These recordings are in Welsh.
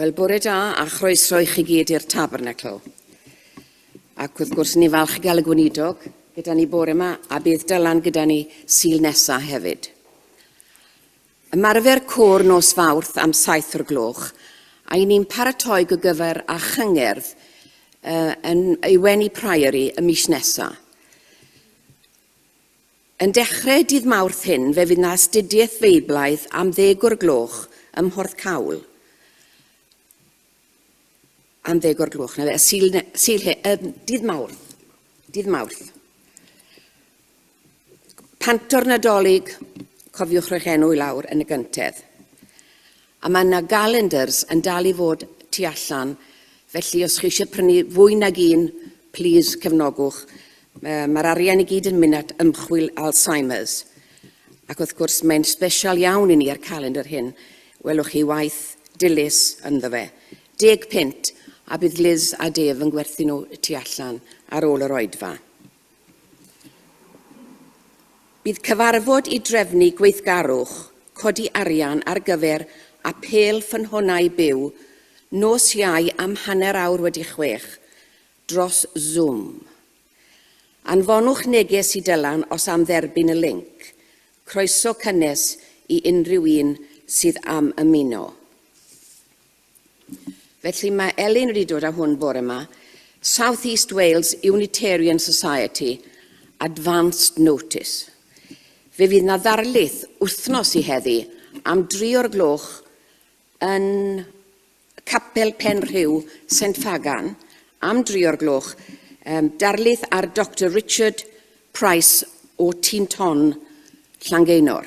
Wel, bore da a chroeso i chi gyd i'r Tabernacl. Ac wrth gwrs, ni'n falch i gael y gweinidog gyda ni bore yma a bydd Dylan gyda ni sil nesa hefyd. Ymarfer côr nos fawrth am saith o'r gloch, a i ni'n paratoi go gyfer a chyngerdd uh, yn ei weni Priory y mis nesaf. Yn dechrau dydd Mawrth hyn fe fydd 'na astudiaeth Feiblaidd am ddeg o'r gloch ym Mhorth Cawl, am ddeg o'r gloch, 'na fe, y Sul, ne, Sul he, um, dydd Mawrth, dydd Mawrth. Panto'r Nadolig, cofiwch rhoi'ch enw i lawr yn y gyntedd. A mae 'na galendars yn dal i fod tu allan, felly os chi eisiau prynu fwy nag un, plîs cefnogwch. Mae'r arian i gyd yn mynd at ymchwil Alzheimer's. Ac wrth gwrs, mae'n sbesial iawn i ni a'r calendar hyn. Welwch chi waith dilys ynddo fe. Deg punt, a bydd Liz a Dave yn gwerthu nhw tu allan ar ôl yr oedfa. Bydd cyfarfod i drefnu gweithgarwch codi arian ar gyfer Apêl Ffynhonnau Byw nos Iau am hanner awr wedi chwech dros Zoom. Anfonwch neges i Dylan os am dderbyn y linc. Croeso cynnes i unrhyw un sydd am ymuno. Felly mae Elin wedi dod â hwn bore yma. South East Wales Unitarian Society Advanced Notice. Fe fydd na ddarlith wythnos i heddi am dri o'r gloch yn Capel Pen Rhyw, St Fagan, am dri o'r gloch, um, darlith ar Dr Richard Price o Tîn Ton, Llangeunor.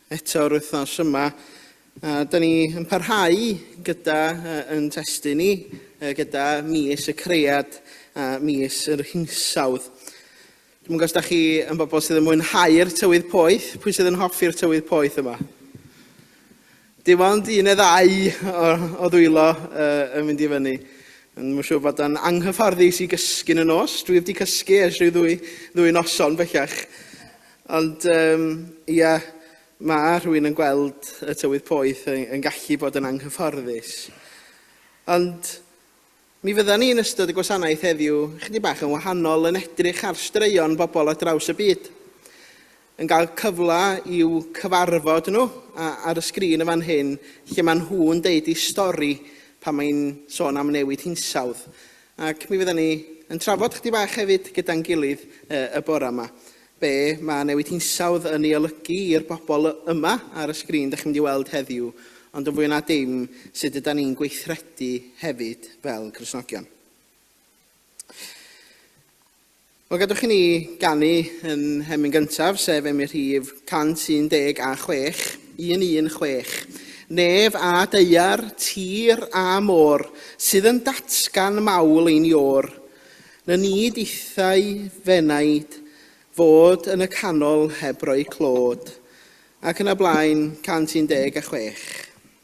eto yr wythnos yma. A da ni yn parhau gyda uh, yn testyn ni, uh, gyda mis y creiad a mis yr hinsawdd. Dwi'n gwybod os da chi yn bobl sydd yn mwynhau'r tywydd poeth, pwy sydd yn hoffi'r tywydd poeth yma? Dim ond un neu ddau o, o ddwylo uh, yn mynd i fyny. Yn mwyn siŵr bod o'n anghyfforddus i gysgu'n y nos. Dwi wedi cysgu ers rhyw ddwy, ddwy noson bellach. Ond, um, ia, mae rhywun yn gweld y tywydd poeth yn, yn gallu bod yn anghyfforddus. Ond mi fydda ni yn ystod y gwasanaeth heddiw chydig bach yn wahanol yn edrych ar straeon bobl ar draws y byd yn cael cyfle i'w cyfarfod nhw ar y sgrin y fan hyn, lle maen nhw'n deud eu stori pan mae'n sôn am newid hinsawdd. Ac mi fyddan ni yn trafod chydig bach hefyd gyda'n gilydd y bore yma, be mae newid hinsawdd yn ei olygu i'r bobl yma ar y sgrin dach chi'n mynd i weld heddiw, ond yn fwy na dim, sut ydan ni'n gweithredu hefyd fel Cristnogion. Wel, gadwch i ni ganu yn Emyn Gyntaf, sef Emyn Rhif 116, 116. Nef a daear, tir a môr, sydd yn datgan mawl ein iôr. Na nid ithau f'enaid fod yn y canol heb roi clod. Ac yn y blaen, 116.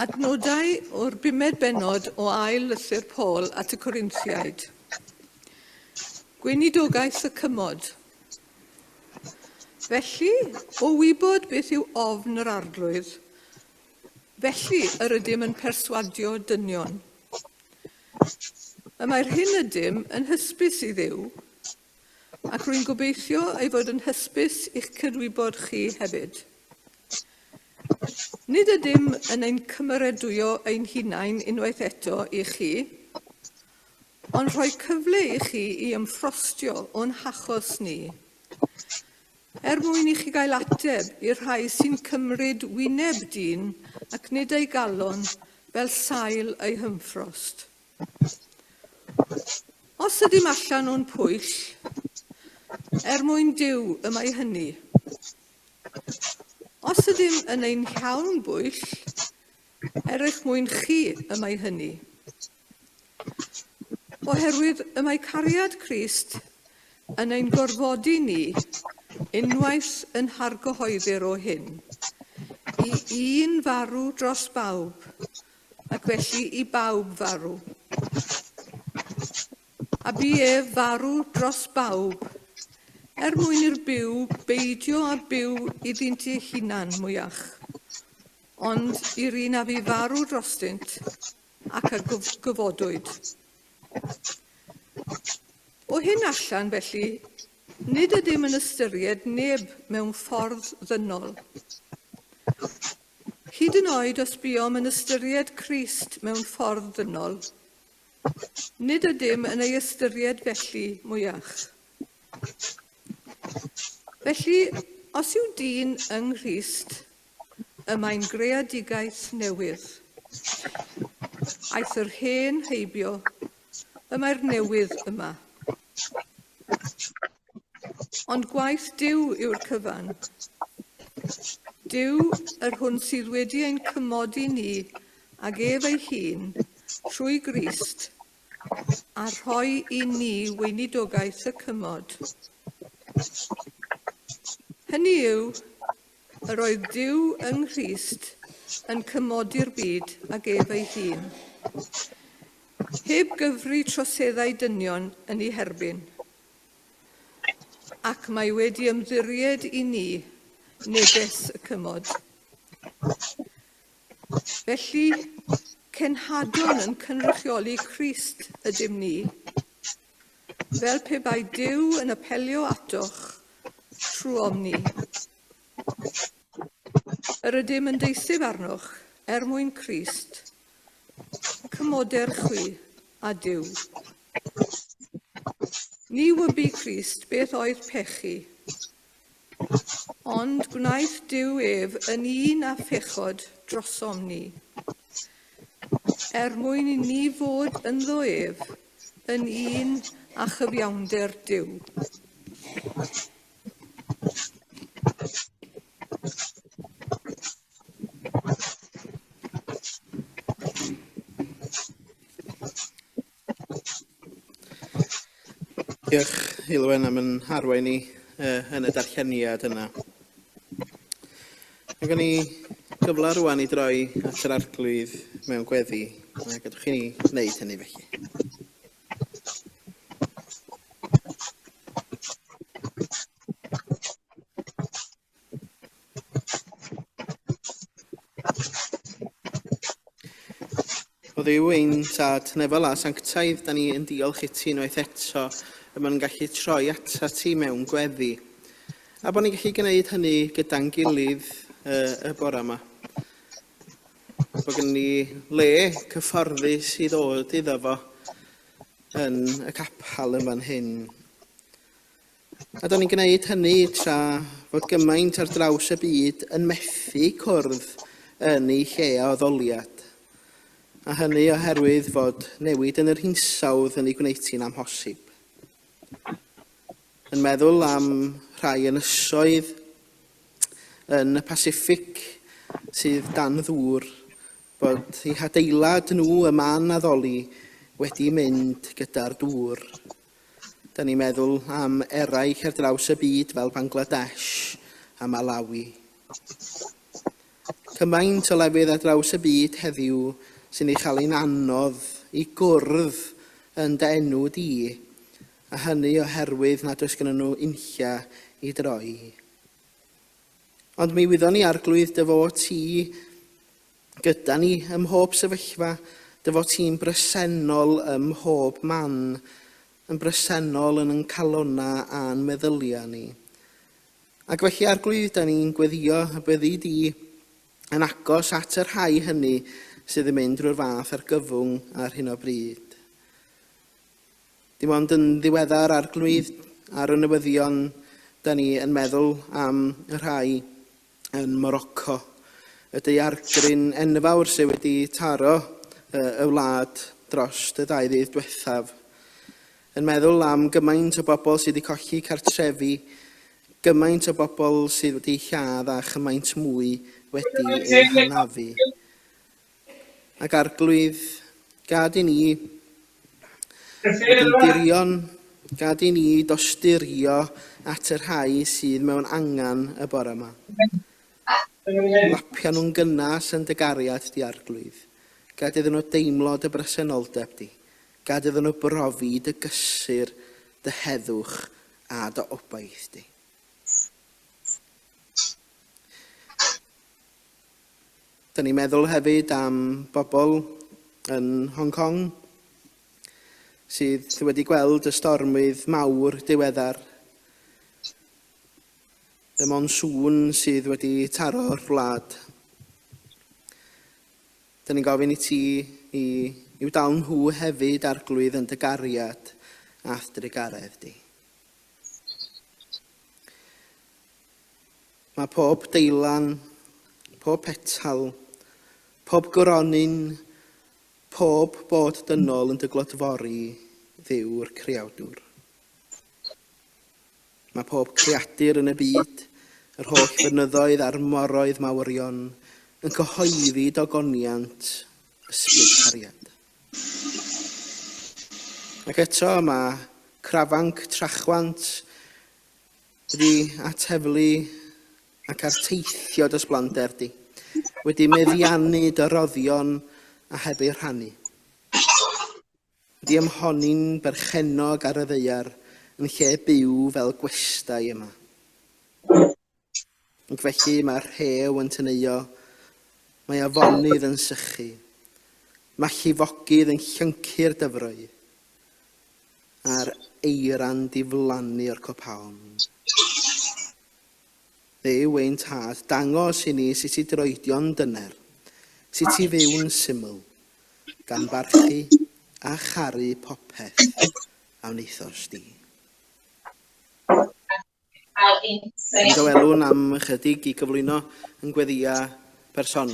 Adnodau o'r bumed bennod o ail lythyr Paul at y Corinthiaid. Gweinidogaeth y cymod. Felly, o wybod beth yw ofn yr Arglwydd, felly yr ydym yn perswadio dynion. Y mae'r hyn ydym yn hysbys i Dduw, ac rwy'n gobeithio ei fod yn hysbys i'ch cydwybod chi hefyd. Nid ydym yn ein cymeradwyo ein hunain unwaith eto i chi, ond rhoi cyfle i chi i ymffrostio o'n hachos ni, er mwyn i chi gael ateb i'r rhai sy'n cymryd wyneb dyn ac nid ei galon fel sail eu hymffrost. Os ydym allan o'n pwyll, er mwyn Duw y mae hynny. Os ydym yn ein llawn bwyll, er eich mwyn chi y mae hynny. Oherwydd y mae cariad Crist yn ein gorfodi ni unwaith yn hargyhoeddir o hyn, i un farw dros bawb, ac felly i bawb farw. A bu ef farw dros bawb, er mwyn i'r byw beidio â byw iddynt eu hunan mwyach, ond i'r un a fu farw drostynt, ac a gyfodwyd. O hyn allan, felly, nid ydym yn ystyried neb mewn ffordd ddynol. Hyd yn oed os buom yn ystyried Crist mewn ffordd dynol, nid ydym yn ei ystyried felly mwyach. Felly, os yw dyn yng Nghrist, y mae'n greadigaeth newydd. Aeth yr hen heibio, y mae'r newydd yma. Ond gwaith Duw yw'r cyfan. Duw, yr hwn sydd wedi ein cymodi ni ag ef ei hun trwy Grist a rhoi i ni weinidogaeth y cymod. Hynny yw, yr oedd Duw yng Nghrist yn cymodi'r byd ag ef ei hun, heb gyfri troseddau dynion yn ei herbyn. ac mae wedi ymddiried i ni neges y cymod. Felly, cenhadwn yn cynrychioli Crist ydym ni, fel pe bai Duw yn apelio atoch trwom ni. Yr ydym yn deuthub arnoch er mwyn Crist. Cymmoder chwi, a Duw. Ni wybu Crist beth oedd pechu, ond gwnaeth Duw ef yn un a phechod drosom ni, er mwyn i ni fod ynddo ef yn un a chyfiawnder Duw. Diolch, Heulwen, am yn harwain ni uh, yn y darlleniad yna. Mae gen i gyfle rwan i droi at yr arglwydd mewn gweddi, a gadwch chi ni wneud hynny felly. O ddiw ein tad nefel a sanctaidd, da ni yn diolch i ti unwaith eto y mae'n gallu troi ata ti mewn gweddi. A bod ni'n gallu gwneud hynny gyda'n gilydd uh, y bore yma. Mae gen ni le cyfforddus i ddod iddo fo yn y capel yn fan hyn. A da ni'n gwneud hynny tra bod gymaint ar draws y byd yn methu cwrdd yn ei lle o ddoliad. A hynny oherwydd fod newid yn yr hinsawdd yn ei gwneud hi'n amhosib. yn meddwl am rhai ynysoedd yn y Pasiffic sydd dan ddŵr, bod eu hadeilad nhw ym man addoli wedi mynd gyda'r dŵr. Dan ni'n meddwl am eraill ar draws y byd fel Bangladesh a Malawi. Cymaint o lefydd ar draws y byd heddiw sy'n ei chael hi'n anodd i gwrdd yn dy enw di, a hynny oherwydd nad oes gennyn nhw uncia i droi. Ond mi wyddon ni, Arglwydd, dy fod ti gyda ni ym mhob sefyllfa, dy fod ti'n bresennol ym mhob man, yn bresennol yn yn calonnau a'n meddyliau ni. Ac felly, Arglwydd, da ni'n gweddio y byddi di yn agos at y rhai hynny sydd yn mynd drwy'r fath argyfwng ar hyn o bryd. Dim ond yn ddiweddar arglwydd ar y newyddion da ni yn meddwl am y rhai yn Morocco, y daeargryn enfawr sydd wedi taro y wlad dros y ddau ddydd diwethaf. Yn meddwl am gymaint o bobl sydd wedi colli cartrefi, gymaint o bobl sydd wedi lladd a chymaint mwy wedi eu hanafu. ac arglwydd, gad i ni fod yn dirion, gad i ni dosturio at y rhai sydd mewn angen y bore yma. Lapio nhw'n gynnes yn dy gariad di, arglwydd. Gad iddyn nhw deimlo dy bresenoldeb di. Gad iddyn nhw brofi dy gysur, dy heddwch a dy obaith di. Dyn ni'n meddwl hefyd am bobl yn Hong Kong sydd wedi gweld y stormydd mawr diweddar. Y monsŵn sydd wedi taro'r wlad. Dyn ni'n gofyn i ti i, i'w dal nhw hefyd arglwydd yn dy gariad a'th drugaredd di. Mae pob deilan, pob petal, pob gronyn, pob bod dynol yn dy glodfori, Dduw'r Creawdwr. Mae pob creadur yn y byd, yr holl fynyddoedd a'r moroedd mawrion, yn cyhoeddi dogoniant ysbryd cariad. Ac eto mae crafanc trachwant wedi at heddlu ac at teithio dros blander di, wedi meddiannu dy roddion a heb eu rhannu, wedi ymhonni'n berchennog ar y ddaear yn lle byw fel gwestai yma. Ac felly mae'r rhew yn teneuo, mae afonydd yn sychu, mae llifogydd yn llyncu'r dyfroedd, a'r eira'n diflannu o'r copaon. Dduw ein Tad, dangos i ni sut i droedio'n dyner, sut i fyw'n syml, gan barchu a charu popeth a wnaethos di. Yn dy welwn am ychydig i gyflwyno yn gweddia personol?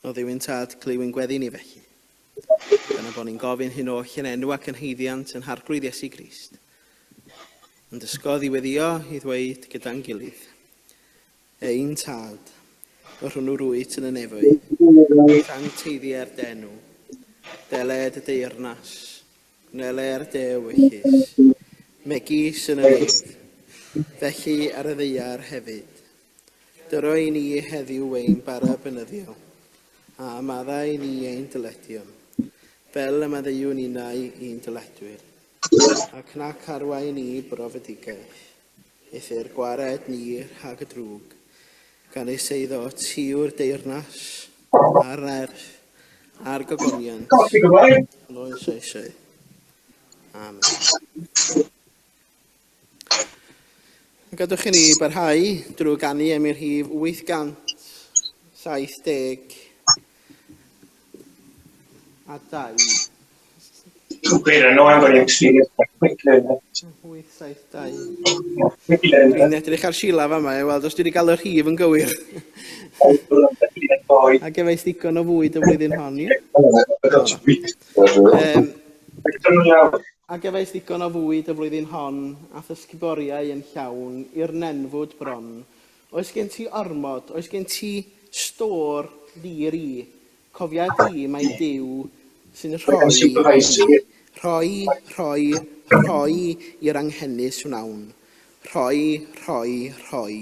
Oedd yw'n tad clywyn gweddi ni felly. Dyna bod ni'n gofyn hyn oll yn enw ac yn heiddiant yn harglwydd Iesu Grist. Yn dysgodd i weddio, i ddweud gyda'n gilydd. Ein tad, yr hwnnw rwyt yn y nefoedd, wrth angteiddi er dy enw. Dele dy deyrnas, gwnele er dy ewyllys, megis yn y nef, felly ar y ddaear hefyd. Dyro i ni heddiw ein bara beunyddiol, a amadda i ni ein dyledion, fel y maddeuwn ninnau i'n dyledwyr, ac na charwa i ni brofedigaeth, Eithr gwared ni rhag y drwg, gan ei seiddo tuw'r deyrnas a'r nerth a'r gogoniant yn oes oesau. Amen. Gadwch i ni barhau drwy ganu am i'r rhif 870 a 2. Cwbl yn oen bod e'n sbio ar quick learner. Yn 872. Yn edrych ar Sheila fama i weld os dwi wedi cael y rhif yn gywir. A gefais ddigon o fwyd y flwyddyn hon, ie? Um, a gefais ddigon o fwyd y flwyddyn hon, a thysgyboriau yn llawn, i'r nenfwd bron. Oes gen ti ormod, oes gen ti stor ddi-ri, Cofia di, mae Duw sy'n rhoi hynny. Rhoi, rhoi, rhoi i'r anghenus wnawn. Rhoi, rhoi, rhoi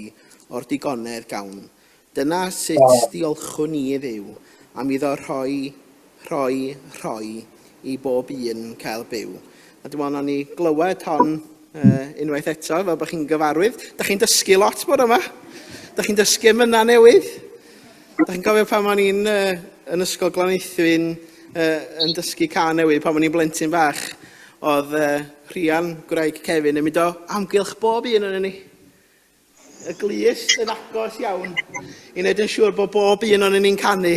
o'r digonedd gawn. Dyna sut diolchwn ni i Dduw, am iddo rhoi, rhoi, rhoi i bob un cael byw. A dwi'n meddwl wnawn ni glywed hon unwaith eto, fel bod chi'n gyfarwydd. Da chi'n dysgu lot bore yma. Da chi'n dysgu am yna newydd. Da chi'n gofio pan o'n i'n uh, yn ysgol Glanaethwyn uh, yn dysgu can newydd, pan o'n i'n blentyn bach, oedd uh, Rhian, gwraig Kevin, yn mynd o amgylch bob un o'n ni y glus yn agos iawn i wneud yn siŵr bod bob un o'n ni'n canu.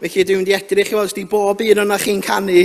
Felly dwi'n mynd i edrych i weld os di bob un o'n chi'n canu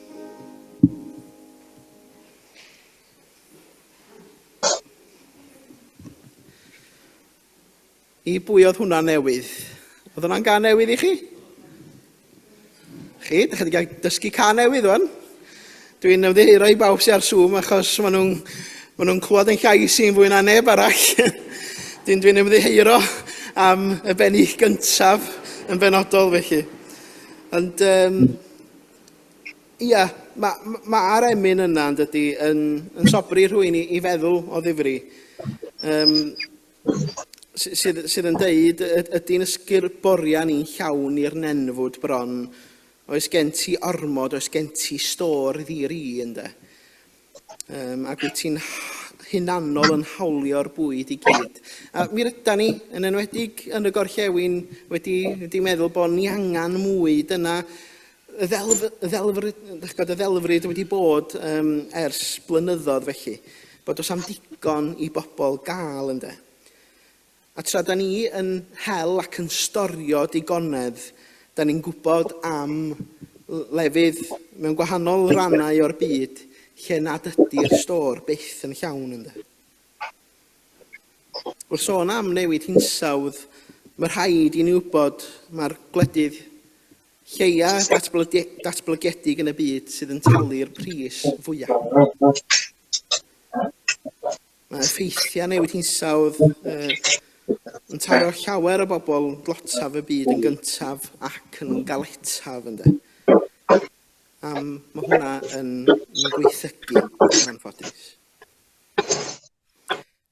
I bwy oedd hwnna newydd? Oedd hwnna'n gan newydd i chi? Chi, ydych chi wedi cael dysgu can newydd o'n? Dwi'n ymddiheuro i bawb sy'n ar Zoom achos maen nhw'n ma nhw clywed yn llais i'n fwy na neb arall. Dwi'n dwi ymddiheuro am y bennu gyntaf yn benodol felly. Ond um, Ia, ma- ma- ma'r emyn yna yn dydi yn yn sobri rhywun i i feddwl o ddifri. Yym sy- sydd sydd yn deud y- ydy'n ysgurboria ni'n llawn i'r nenfwd bron oes gen ti ormod oes gen ti stor ddi-ri ynde. um, ac wyt ti'n hunanol yn hawlio'r bwyd i gyd. A mi ryda ni, yn enwedig yn y gorllewin, wedi, wedi meddwl bod ni angen mwy. Dyna y ddelf, y ddelfryd, y ddelfryd wedi bod um, ers blynyddoedd felly, bod os am digon i bobl gael ynddo. A tra 'da ni yn hel ac yn storio digonedd, 'da ni'n gwybod am lefydd mewn gwahanol rannau o'r byd lle nad ydy'r stôr byth yn llawn, ynde? Wrth sôn am newid hinsawdd, mae rhaid i ni wybod mai'r gwledydd lleia datblygedig yn y byd sydd yn talu'r pris fwya. Mae effeithiau newid hinsawdd yn taro llawer o bobl dlotaf y byd yn gyntaf ac yn galetaf ynde. Am mae hwnna yn gweithygu yn anffodus.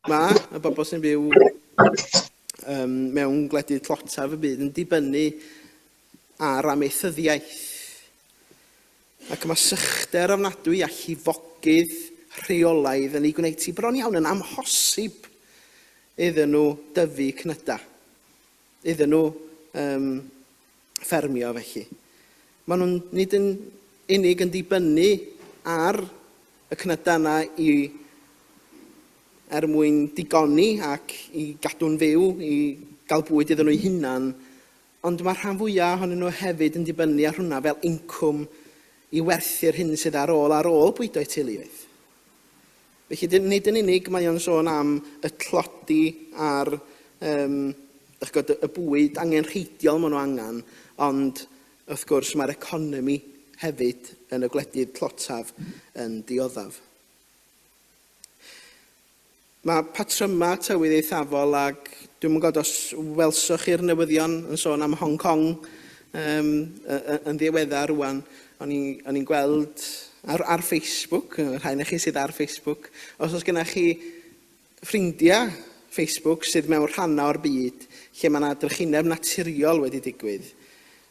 Mae y bobl sy'n byw um, mewn gwledydd tlotaf y byd yn dibynnu a'r amaethyddiaeth, ac mae sychder ofnadwy a llifogydd rheolaidd yn eu gwneud hi bron iawn yn amhosib iddyn nhw dyfu cnydau, iddyn nhw um, ffermio felly. Maen nhw'n nid yn unig yn dibynnu ar y cnydau yna i er mwyn digoni ac i gadw'n fyw, i gael bwyd iddyn nhw'u hunan, Ond mae'r rhan fwyaf ohonyn nhw hefyd yn dibynnu ar hwnna fel incwm i werthu'r hyn sydd ar ôl ar ôl bwydo'u teuluoedd. Felly, nid yn unig mae o'n sôn am y tlodi a'r um, chgod, y bwyd angenrheidiol maen nhw angen, ond wrth gwrs mae'r economi hefyd yn y gwledydd tlotaf yn dioddaf. Mae patrymau tywydd eithafol ac dwi ddim yn gwybod os welsoch chi'r newyddion yn sôn am Hong Kong um, yn ddiweddar rwan. O'n i'n gweld ar, ar Facebook, rhai na chi sydd ar Facebook, os oes gennych chi ffrindiau Facebook sydd mewn rhannau o'r byd lle mae yna drychineb naturiol wedi digwydd,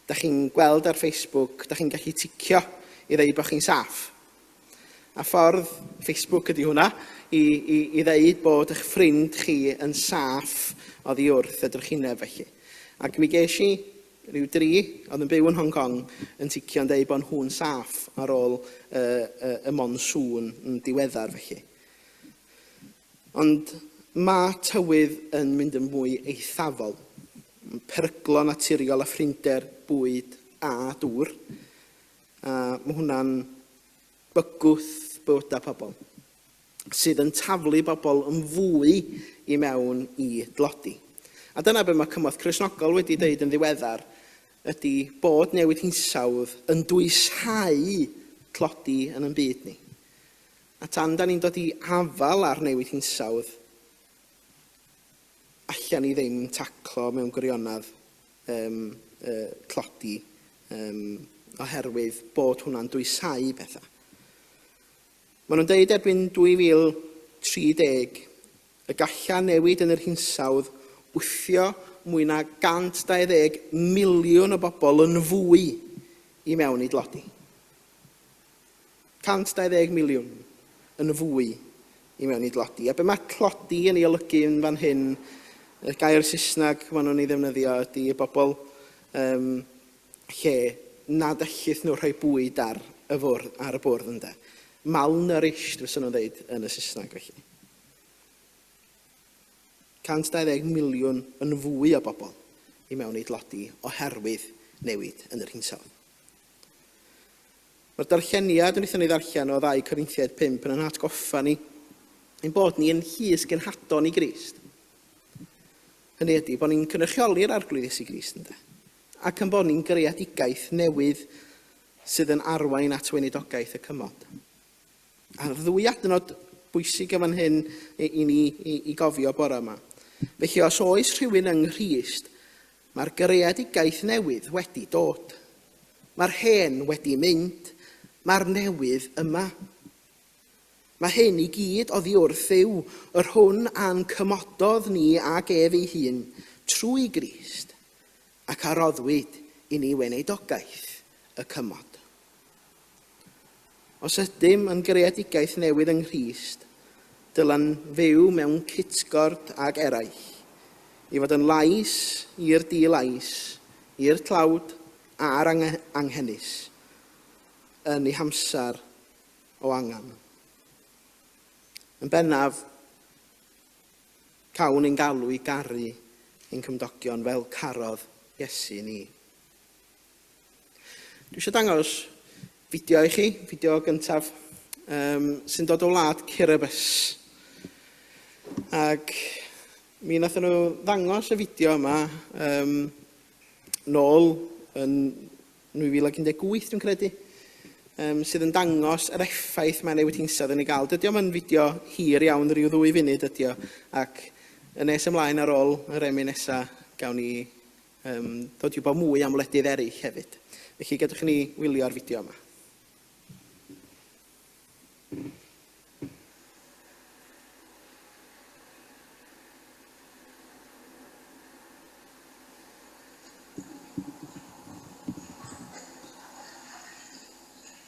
da chi'n gweld ar Facebook, da chi'n gallu ticio i ddweud bod chi'n saff. A ffordd, Facebook ydy hwnna, i, i, i ddeud bod eich ffrind chi yn saff oddi wrth y drychineb felly. Ac mi ges i rhyw dri oedd yn byw yn Hong Kong yn ticio'n deud bod nhw'n saff ar ôl y, y, y monsŵn yn diweddar felly. Ond mae tywydd yn mynd yn fwy eithafol. Peryglo naturiol a phrinder, bwyd a dŵr. A mae hwnna'n bygwth bywydau pobl sydd yn taflu bobl yn fwy i mewn i dlodi. A dyna beth mae Cymorth Cristnogol wedi dweud yn ddiweddar, ydy bod newid hinsawdd yn dwyshau tlodi yn yn byd ni. A tan da ni'n dod i afal ar newid hinsawdd, allan ni ddim taclo mewn gwirionedd yym yy tlodi yym oherwydd bod hwnna'n dwysáu pethau. Maen nhw'n deud erbyn 2030 y galla newid yn yr hinsawdd wthio mwy na 120 miliwn o bobl yn fwy i mewn i dlodi. 120 miliwn yn fwy i mewn i dlodi. A be mae tlodi yn ei olygu yn fan hyn, y gair Saesneg maen nhw'n ei ddefnyddio ydy y bobl um, lle nad ellith nhw rhoi bwyd ar y fwrdd, ar y bwrdd ynde. Malnourished, fysa nhw'n dweud yn y Saesneg felly. 120 miliwn yn fwy o bobl i mewn i dlodi oherwydd newid yn yr hinsawdd. Mae'r darlleniad wnaethon ni ddarllen o ddau Corinthiaid 5 yn ein hatgoffa ni ein bod ni yn llys genhadon i Grist. Hynny ydy, bod ni'n cynrychioli'r arglwydd Iesu Grist ynde, ac yn bod ni'n greadigaeth newydd sydd yn arwain at weinidogaeth y cymod. A'r ddwy adnod bwysig yn fan hyn i, i ni i, i gofio bore yma. Felly, os oes rhywun yng Nghrist, Mae'r greadigaeth newydd wedi dod. Mae'r hen wedi mynd, mae'r newydd yma. Mae hyn i gyd oddi wrth yw yr hwn a'n cymododd ni ag ef ei hun trwy Grist, ac a roddwyd i ni weneidogaeth y cymod. Os ydym yn greadigaeth newydd yng Nghrist, dylen fyw mewn cytgord ag eraill, i fod yn lais i'r di-lais, i'r tlawd a'r anghenus, yn ei hamser o angen. Yn bennaf, cawn ein galw i garu ein cymdogion fel carodd Iesu ni. Dwi eisiau dangos fideo i chi, fideo gyntaf, um, sy'n dod o wlad Kiribus. Ac mi nath nhw ddangos y fideo yma um, nôl yn 2018, dwi'n credu, um, sydd yn dangos yr effaith mae newid hinsawdd yn ei gael. Dydy o'm yn fideo hir iawn, rhyw ddwy funud ydy o, ac yn nes ymlaen ar ôl yr emyn nesaf, gawn ni Yym, dod i wybod mwy am wledydd eraill hefyd. Felly, gadwch i ni wylio ar fideo yma.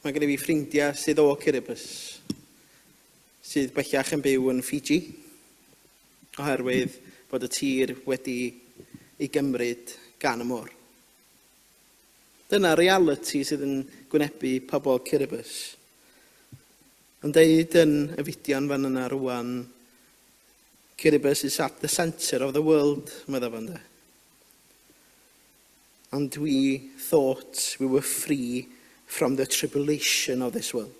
Mae gen i fi ffrindiau sydd o Kiribati sydd bellach yn byw yn Fiji oherwydd bod y tir wedi ei gymryd gan y môr. Dyna realiti sydd yn gwynebu pobl Kiribati. Yn deud yn y fideo'n fan yna rwan, Kiribati is at the centre of the world, meddai fo ynde. And we thought we were free from the tribulation of this world.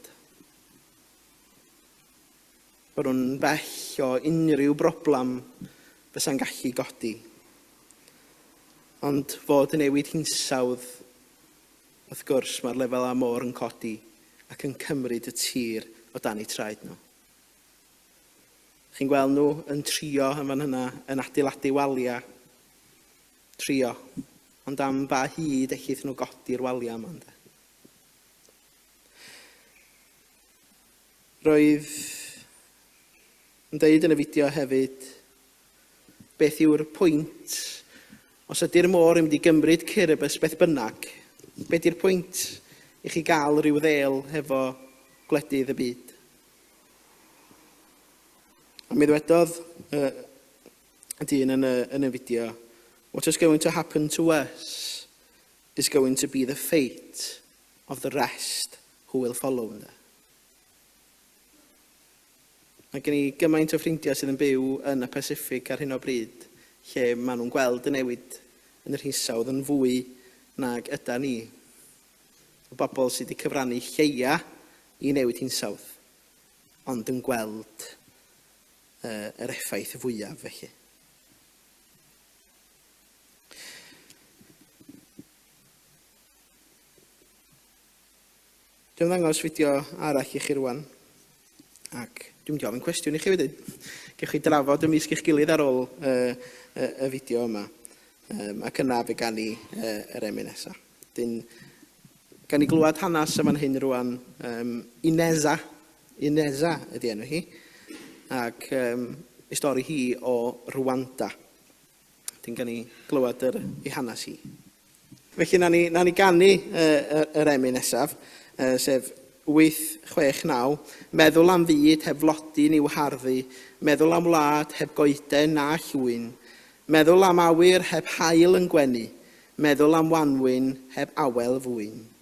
Bod nhw'n bell o unrhyw broblem fysa'n gallu godi. Ond fod y newid hinsawdd, wrth gwrs, mae'r lefel a môr yn codi ac yn cymryd y tir o dan eu traed nhw. Chi'n gweld nhw yn trio yn fan hynna, yn adeiladu waliau, Trio. Ond am ba hyd ellith nhw godi'r waliau yma, ynde? Roedd yn deud yn y fideo hefyd, beth yw'r pwynt? Os ydy'r môr yn mynd i gymryd cur y bys beth bynnag, be di'r pwynt i chi gael rhyw ddel hefo gwledydd y byd? A mi ddwedodd y dyn yn y, yn y fideo. What is going to happen to us is going to be the fate of the rest who will follow, ynddo. Mae gen i gymaint o ffrindiau sydd yn byw yn y Pacific ar hyn o bryd, lle maen nhw'n gweld y newid yn yr hinsawdd yn fwy nag yda ni. Y bobl sydd wedi cyfrannu lleia i newid hinsawdd, ond yn gweld y yr effaith fwyaf felly. Dwi'n ddangos fideo arall i chi rwan. Ac dwi'n mynd i ofyn cwestiwn i chi wedyn. Gewch chi drafod y misg eich gilydd ar ôl y, y, y fideo yma. Um, ac yna fe gan i uh, yr emu nesaf. Dyn, gan i glywed hanes yma'n hyn rwan, um, Ineza, Ineza ydi enw hi, ac um, i stori hi o Rwanda. Dyn gan ni glywed yr, ei hanes hi. Felly, na ni, na ni gannu uh, yr emyn nesaf, uh, sef 869, meddwl am fyd heb flodyn i'w harddu, meddwl am wlad heb goeden na llwyn, meddwl am awyr heb hael yn gwenu, meddwl am wanwyn heb awel fwyn.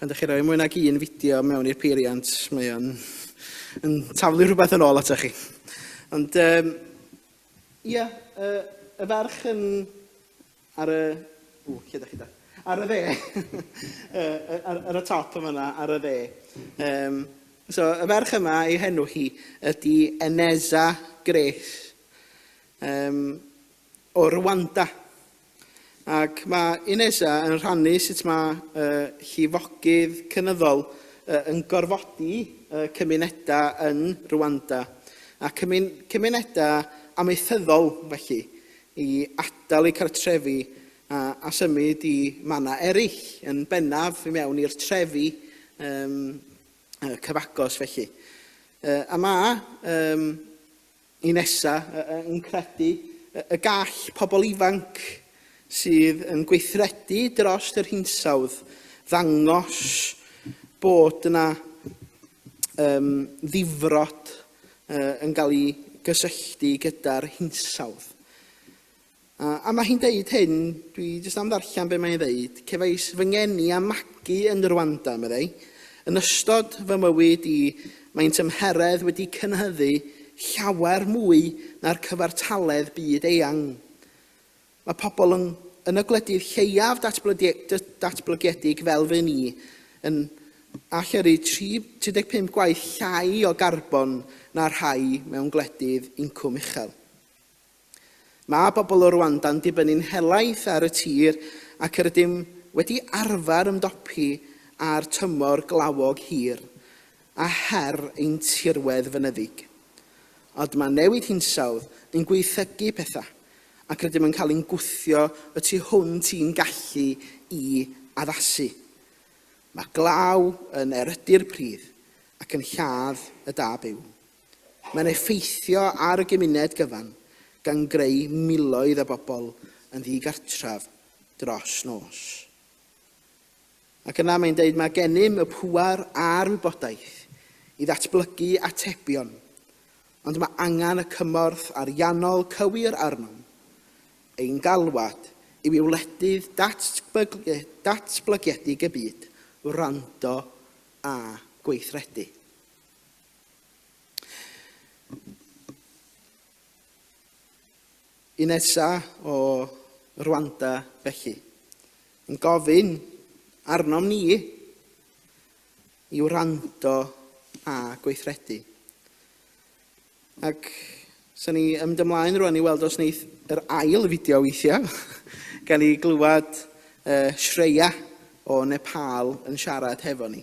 Pan ydych chi'n rhoi mwy nag un fideo mewn i'r peiriant, mae o'n yn taflu rhywbeth yn ôl atoch chi. Ond, um, ia, y, y ferch yn ar y... O, lle ydych chi da? Ar y dde. ar, ar y top yma yna, ar y dde. Um, so, y ferch yma, ei henw hi, ydy Eneza Grace. um, o Rwanda. Ac mae Ineza yn rhannu sut mae uh, llifogydd cynyddol uh, yn gorfodi uh, cymunedau yng Rwanda a cymun cymunedau amaethyddol felly i adael eu cartrefi a, a symud i mannau eraill, yn bennaf i mewn i'r trefi um, cyfagos felly. Uh, a mae um, i nesa, yn credu y gall pobl ifanc sydd yn gweithredu dros yr hinsawdd ddangos bod yna um, ddifrod uh, yn cael ei gysylltu gyda'r hinsawdd. A, a mae hi'n deud hyn, dwi jyst am ddarllen be mae hi'n ddeud, cefais fy ngeni a magu yn Rwanda, meddai. Yn ystod fy mywyd i, mae'n tymheredd wedi cynhyddu llawer mwy na'r cyfartaledd byd eang. Mae pobl yn, yn y gwledydd lleiaf datblygiedig fel fy ni yn allyrru 35 gwaith llai o garbon na'r rhai mewn gwledydd incwm uchel. Mae pobl o Rwanda'n dibynnu'n helaeth ar y tir ac rydym wedi arfer ymdopi â'r tymor glawog hir a her ein tirwedd fynyddig. Ond mae newid hinsawdd yn gwaethygu pethau ac rydym yn cael ein gwthio y tu hwnt i'n gallu i addasu. Mae glaw yn erydu'r pridd ac yn lladd y da byw. Mae'n effeithio ar y gymuned gyfan, gan greu miloedd o bobl yn ddigartref dros nos. Ac yna mae'n dweud, mae gennym y pŵer a'r wybodaeth i ddatblygu atebion, ond mae angen y cymorth ariannol cywir arnom. Ein galwad yw i wledydd datblygedig y byd wrando a gweithredu. Un nesa o Rwanda felly, yn gofyn arnom ni i wrando a gweithredu. Ac sy'n ni ymwneud ymlaen rwan i weld os wneith yr ail fideo weithiau, gan i glywed uh, Shreya o Nepal yn siarad hefo ni.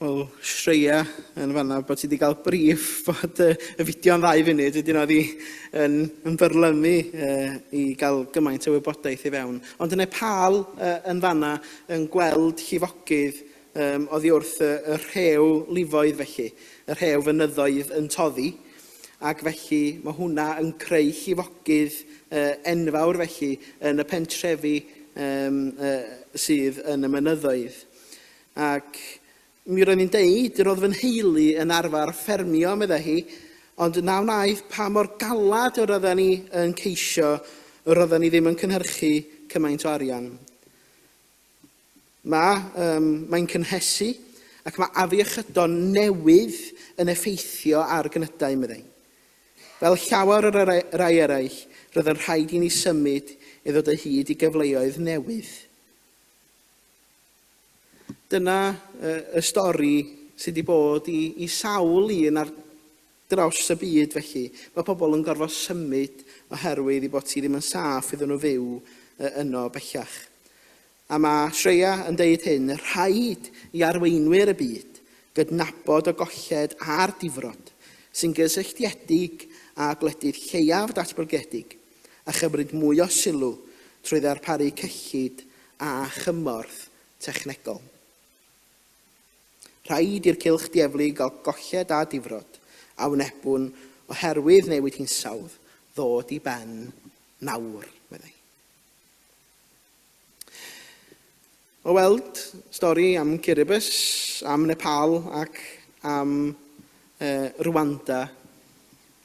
Wel, Shreya yn fanna bod ti wedi cael brif bod y, y fideo'n ddau funud, wedyn oedd hi yn, yn byrlymu uh, i gael gymaint o wybodaeth i fewn. Ond yn Nepal uh, yn fanna yn gweld llifogydd um, oddi wrth y, y rhew lifoedd felly, y rhew fynyddoedd yn toddi, ac felly mae hwnna yn creu llifogydd enfawr felly yn y pentrefi sydd yn y mynyddoedd. Ac mi roedd hi'n deud, yr oedd fy nheulu yn arfer ffermio, meddai hi, ond na wnaeth pa mor galed yr oedden ni yn ceisio, yr oedden ni ddim yn cynhyrchu cymaint o arian. Mae, um, mae'n cynhesu, ac mae afiechydon newydd yn effeithio ar gynydau, meddai. Fel llawer o rai eraill, roedd yn rhaid i ni symud i ddod o hyd i gyfleoedd newydd. Dyna uh, y stori sydd wedi bod i, i sawl un ar Dros y byd, felly, mae pobl yn gorfod symud oherwydd ei bod hi ddim yn saff iddyn nhw fyw yno bellach. A mae Shreya yn deud hyn, Rhaid i arweinwyr y byd gydnabod y golled a'r difrod sy'n gysylltiedig â gwledydd lleiaf datblygedig a chymryd mwy o sylw trwy ddarparu cyllid a chymorth technegol. Rhaid i'r cylch dieflu gael golled a difrod, a wnebwn, oherwydd newid hinsawdd, ddod i ben nawr, meddai. O weld stori am Kiribus, am Nepal ac am uh, Rwanda.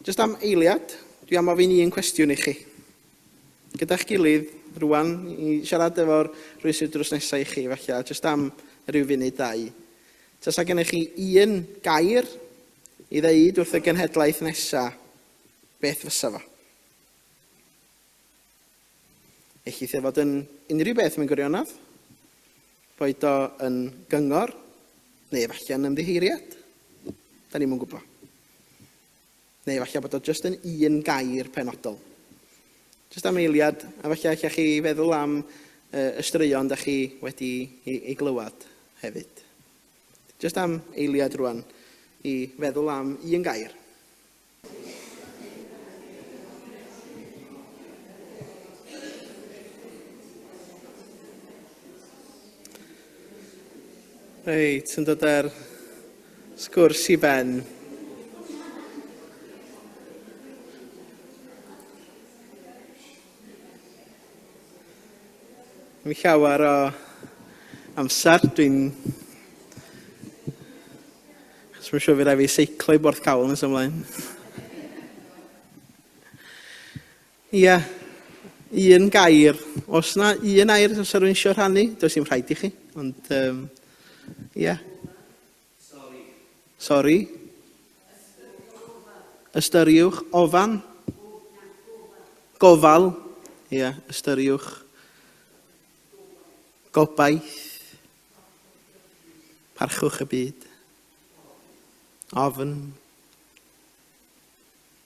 Just am eiliad, dwi am ofyn un cwestiwn i chi. gyda'ch gilydd rŵan i siarad efo'r rhwystr drws nesa i chi falle jyst am ryw funud ddau. Tasa gennych chi un gair i ddeud wrth y genhedlaeth nesa, beth fysa fo? Ellith e fod yn unrhyw beth mewn gwirionedd, boed o yn gyngor neu efallai yn ymddiheuriad. Da ni'm yn gwybod. Neu efallai bod o jyst yn un gair penodol. Jyst am eiliad, a falle allech chi feddwl am y straeon da chi wedi ei glywed hefyd. Jyst am eiliad rwan i feddwl am un gair. Reit, yn dod ar sgwrs i ben. Mae'n llawer o amser dwi'n... Chos mae'n siŵr fi rai fi seiclo i Borth Cawl nes ymlaen. Ia, un gair. Os na un air os rwy'n eisiau rhannu, does dim rhaid i chi, ond um, ia. Sori. Sori. Ystyriwch ofan. Gofal. Ia, ystyriwch. Gobaith. Parchwch y byd. Ofn.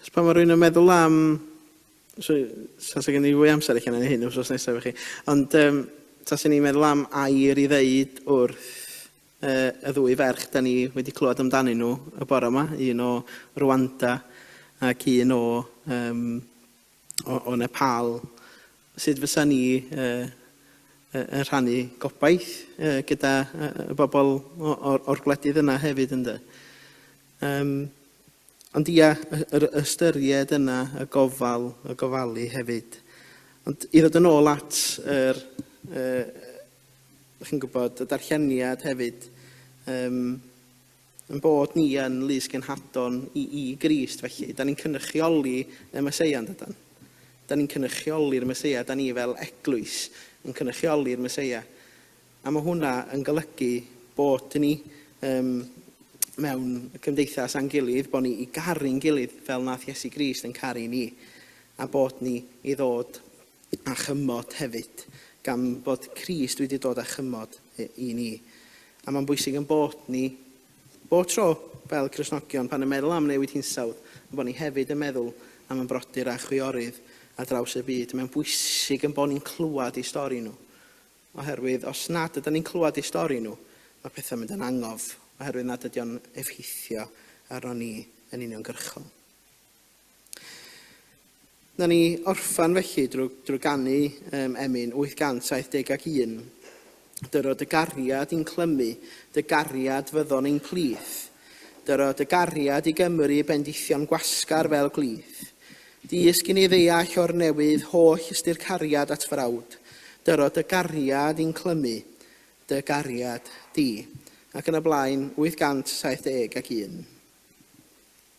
Achos pan mae rhywun yn meddwl am... So, tasa gen i fwy amser allan yn hyn wrth nesaf i chi. Ond um, tasa ni'n meddwl am air i ddeud wrth uh, y ddwy ferch da ni wedi clywed amdanyn nhw y bore yma, un o Rwanda ac un o um, o, o Nepal, sut fysa ni uh, yn rhannu gobaith uh, gyda uh, y bobl o'r, or gwledydd yna hefyd ynddo. Um, ond ia, yr ystyried yna y gofal, y gofalu hefyd. Ond i ddod yn ôl at yr, uh, chi'n gwybod, y darlleniad hefyd, um, Ein bod ni yn lys genhadon i i Grist, felly, 'da ni'n cynrychioli y Meseia, yn dydan? 'Da ni'n cynrychioli'r Meseia, 'da ni fel Eglwys yn cynrychioli'r Meseia. A mae hwnna yn golygu bod ni um, mewn cymdeithas a'n gilydd, bod ni i garu'n gilydd fel nath Iesu Grist yn caru ni, a bod ni i ddod a chymod hefyd, gan fod Crist wedi dod â chymod i ni. A mae'n bwysig yn bod ni, bob tro, fel Cristnogion, pan yn meddwl am newid hinsawdd, yn bod ni hefyd yn meddwl am y brodyr a chwiorydd ar draws y byd. Mae'n bwysig yn bod ni'n clywed eu stori nhw. Oherwydd, os nad ydym ni'n clywed eu stori nhw, mae pethau'n mynd yn angof, oherwydd nad ydy o'n effeithio arno ni yn uniongyrchol. Na ni orffan felly drwy, drwy ganu um, Emyn 871. Dyro dy gariad i'n clymu, dy gariad fyddon ein plith. Dyro dy gariad i Gymru bendithion gwasgar fel glith. Dys gyn i ddeall o'r newydd holl ystyr cariad at frawd. Dyro dy gariad i'n clymu, dy gariad di. Ac yn y blaen, 871.